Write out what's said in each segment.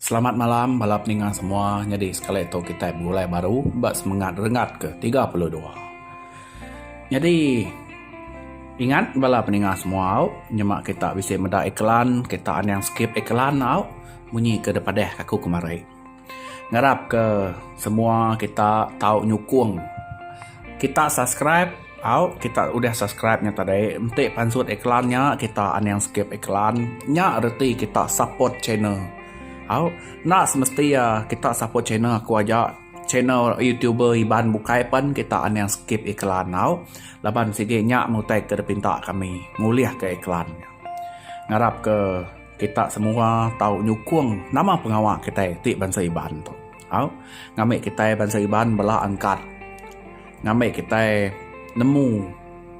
Selamat malam bala peninga semua nyadi sekali tu kitai begulai baru ba semengat renggat ke tiga puluh dua nyadi ingat bala peninga semua au nyema kita bisi meda iklan kita anang skip iklan au munyi ke dipadah aku kemari ngarap ke semua kita tau nyukung kita subscribe. Au kita udah subscribe nya tadi enti pansut iklan nya kita aning skip iklan nya reti kita support channel au enda semesti ya kita support channel aku aja channel youtuber iban bukai pen kita aning skip iklan au laban sigi nya ngutai ke dipinta kami ngulih ke iklan nya ngarap ke kita semua tau nyukung nama pengawa kitai ti bansa iban tu. Au, ngambi kitai bansa Iban bela angkat ngambi kitai nemu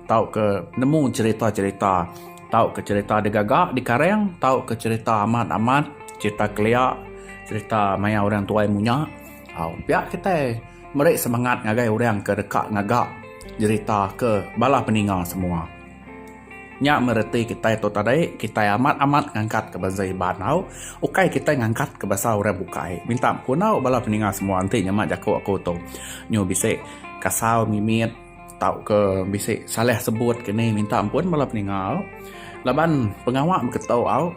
tauka nemu cherita-cherita tauka cherita digaga dikareng tauka cherita amat-amat cherita kelia cherita maya orang tuai munya. Au, pia kitai meri semangat ngagai orang ke deka ngaga cherita ke bala peninga semua. Nya mereti kitai tu tadi, kitai amat-amat ngangkatka bansa Iban tau. Ukai kitai ngangkatka bansa orang bukai. Minta bekundau bala peninga semua enti nyema jaku aku tu. Nyu bisi kasau mimit tauka bisi salah sebut ke ni minta ampun bala peninga au. Laban pengawa baka tu au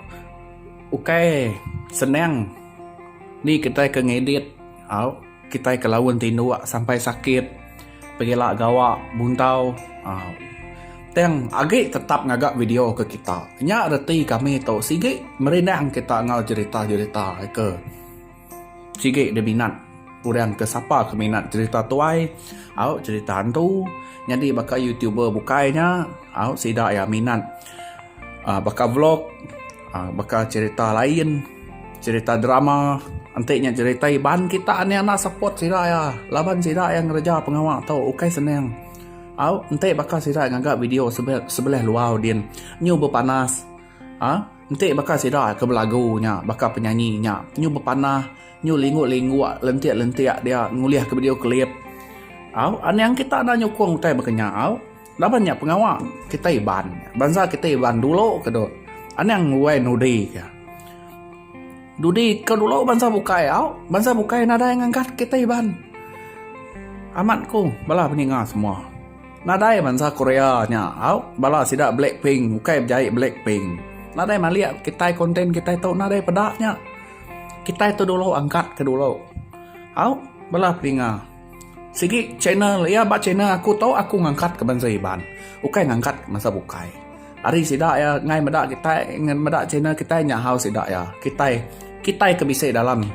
ukai senang ni kitai ke ngedit au. Kitai ke laun ti indu sampai sakit pegila gawa buntau aaa tang agi tetap ngaga video ke kita nya reti kami tu sigi merindang kita enggau jerita jerita ke sigi diminat orang ke sapa ke minat jerita tuai au jerita hantu nyadi baka youtuber bukai nya au sida iya minat. baka vlog, baka cerita lain, cerita drama enti nya cerita iban kita nya enda support sida iya laban sida iya ngereja pengawa tu ukai senang. Au enti baka sida ngaga video sebelah luar din nyu bepanas aaa enti baka sida ke belagu nya baka penyanyi nya nyu bepanah nyu lingguk-lingguk lentik-lentik dia ngulihka video klip. Au anang kita enda nyukung utai baka nya au. Laban nya pengawa kita Iban, bansa kita Iban dulu ke dok anang nguai nudi ke. Dudi ke dulu bansa bukai au, bansa bukai nadai ngangkat kita Iban. Amat ku bala peninga semua. Nadai bansa Korea nya au bala sida Blackpink ukai bejai Blackpink. Nadai malik kitai konten kitai tu nadai peda nya. Kitai tu dulu angkat ke dulu. Au bala peninga. Sigi channel iya ba channel aku tu aku ngangkat ke bansa Iban ukai ngangkat ke bansa bukai ari sida iya ngai meda kitai ngan meda channel kitai nyahau sida iya kitai kitai ke bisi dalam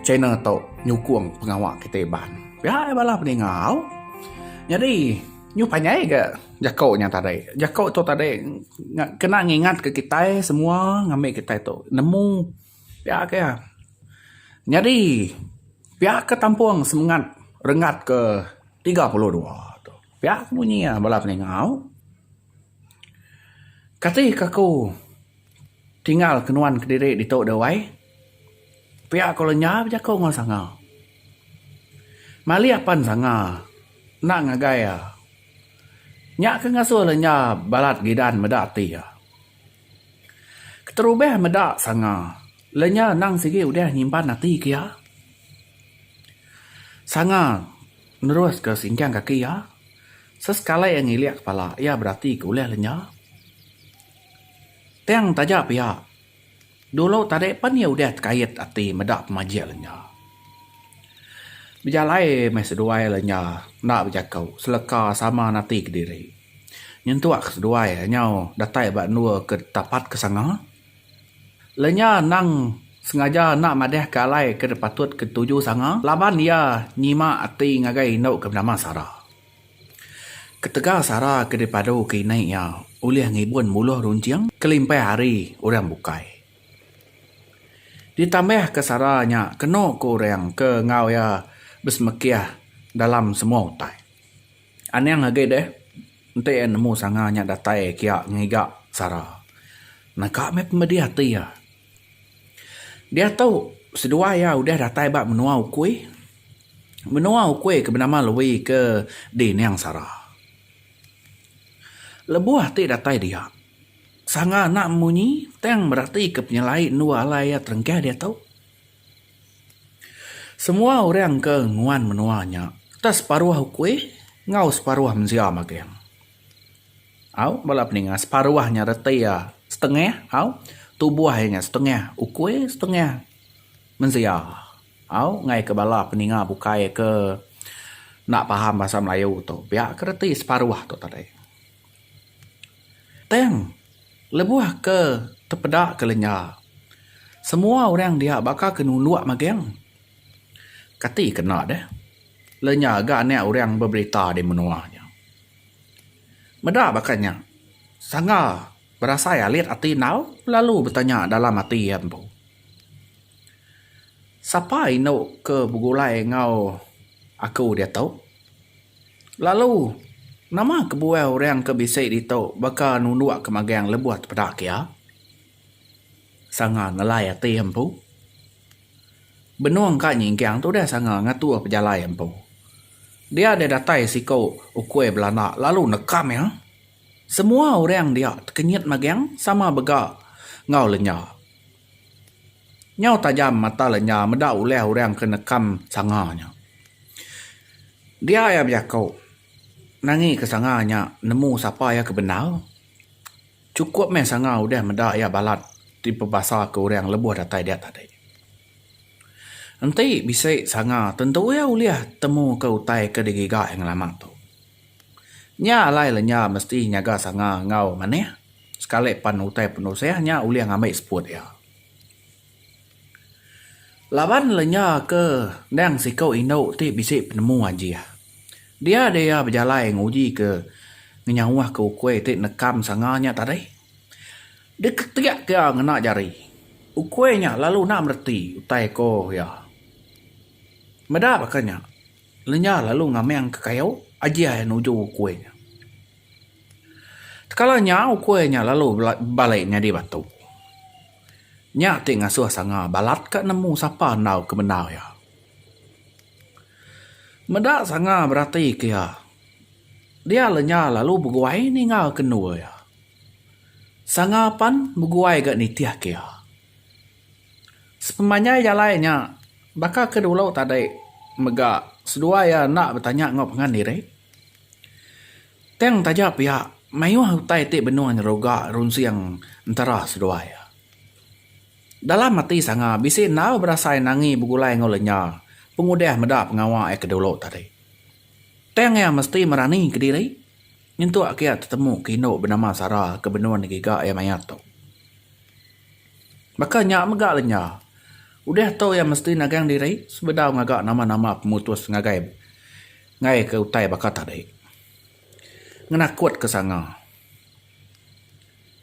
channel tu nyukung pengawa kitai Iban pia iya bala peninga au nyadi nyu panjai ga jaku nya tadi jaku tu tadi kena ngingat ke kitai semua ngambi kitai tu nemu. Pia ke iya. Nyadi, pia ke tampung semengat renggat ke tiga puluh dua tu. Pia ke munyi iya bala peningau. Kati ke aku tinggal ke nuan kediri ditu dawai, pia ku lenyau bejaku enggau sanga. Malih apan sanga enda ngagai iya. Nya ke ngasuh lenyau balat gidan meda ati iya. Keterubah meda sanga, lenya endang sigi udah nyimpan ati ke iya. Sanga neruska singkang kaki iya, sesekali iya ngilik kepala iya berati ke ulah lenya. Tang taja pia, dulu tadi pan iya udah tekait ati meda pemajik lenya. Bejalai meh seduai lenya enda bejaku seleka sama nati kediri. Nyentuk ke seduai nyau datai ba endur ke tapat ke sanga. Lenya nang sengaja enda madahka alai ke patut ke tuju sanga laban iya nyima ati ngagai indu ke benama Sara. Ketegal Sara ke dipadu ke indai iya ulih ngibun buluh runcing kelimpah ari orang bukai. Ditambahka Sara nya kenu ke orang ke enggau iya besemekih dalam semua utai. Anang agi deh enti iya nemu sanga nya datai kiya ngiga sara. Naka meh pemedih ati iya. Diatu seduai iya udah datai ba menua ukui. Menua ukui ke benama Lui ke di Nang Sara. Lebuh ati datai dia, sanga enda munyi tang meratika penyelai endur alai iya terengkah diatu. Semua orang ke nguan menua nya udah separuh ukui enggau separuh mensia magang. Au bala ke ninga separuh nya reti iya setengah au tubuh iya nya setengah ukui setengah mensia. Au ngaih ke bala ke ninga bukai ke enda faham bahasa melayu tu pia ke reti separuh tu tadi. Tang lebuh ke tepeda ke lenya semua orang dia baka ke nulok magang kati kena deh lenya ga anak orang beberita di menua nya. Meda baka nya sanga berasai alit ati enggau lalu betanya dalam ati iya empu sapa inu ke begulai enggau aku diatu. Lalu, nama kebuah orang ke bisi ditu baka nundukka magang lebuh tepeda kia? Sanga ngelai ati empu. Benung ka nyingkang tu udah sanga ngatur pejalai empu. Dia deh datai siku ukui belanda lalu nekam iya. Semua orang dia tekenyit magang sama bega enggau lenya. Nyau tajam mata lenya meda ulih orang ke nekam sanga nya. Dia iya bejaku, nangika sanga nya nemu sapa iya ke bendar. Chukup meh sanga udah meda iya balat dipebasaka orang lebuh datai dia tadi. Enti bisi sanga tentu iya ulih temuka utai ke digiga iya ngelama tu. Nya alai lenya mesti nyaga sanga enggau manih. Sekali pan utai penusah nya ulih ngambi seput iya. Laban lenya ke endang siku indu ti bisi penemu ajih. Dia deh iya bejalai nguji ke ngenyauh ke ukui ti nekam sanga nya tadi. Diketik ke iya ngena jari. Ukui nya lalu enda mereti utai ko iya. Meda baka nya, lenya lalu ngamang ke kayu ajih iya nuju ukui nya. Tekala nya ukui nya lalu balai nyadi batu. Nya ti ngasuh sanga balat ka nemu sapa endaw ke bendar iya. Meda sanga berati ke iya, dia le nya lalu beguai ninga ke endur iya. Sanga pan beguai ga nitih ke iya. Sepemanjai jalai nya baka ke dulu tadi mega seduai iya enda betanya enggau pangan diri. Tang taja pia, mayuh utai ti benung nyeruga runsing entara seduai. Dalam ati sanga bisi enggau berasai nangi begulai enggau lenya pengudah meda pengawa iya ke dulu tadi. Tang iya mesti merani ke diri nyentuk kiya tetemu ke indu benama Sarah ke benung ngegiga iya mayat tu. Baka nya mega lenya, udah tu iya mesti nagang diri sebedau ngaga nama-nama pemutus ngagai. Ngaika utai baka tadi. Ngenakutka sanga.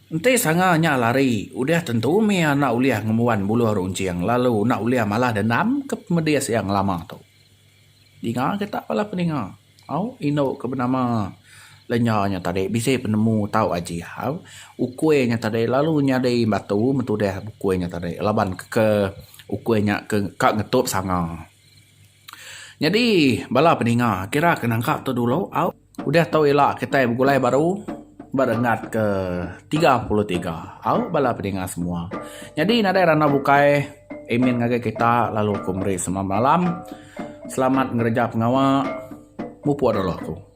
Enti sanga nya lari, udah tentu mih enda ulih ngembuan buluh runcing lalu enda ulih malah dendam ke pemedis iya ngelama tu. Dinga kita bala peninga. Au indu ke benama lenya nya tadi bisi penemu tau aji au ukui nya tadi lalu nyadi batu betudih ukui nya tadi laban ke ukui nya ke ka ngetup sanga. Nyadi bala peninga kira ke nangka tu dulu au udah tu ila kitai begulai baru ba renggat ke tiga puluh tiga au bala peninga semua. Nyadi nadai randau bukai amin ngagai kita lalu aku meri selamat malam selamat ngereja pengawa mupuk dulu aku.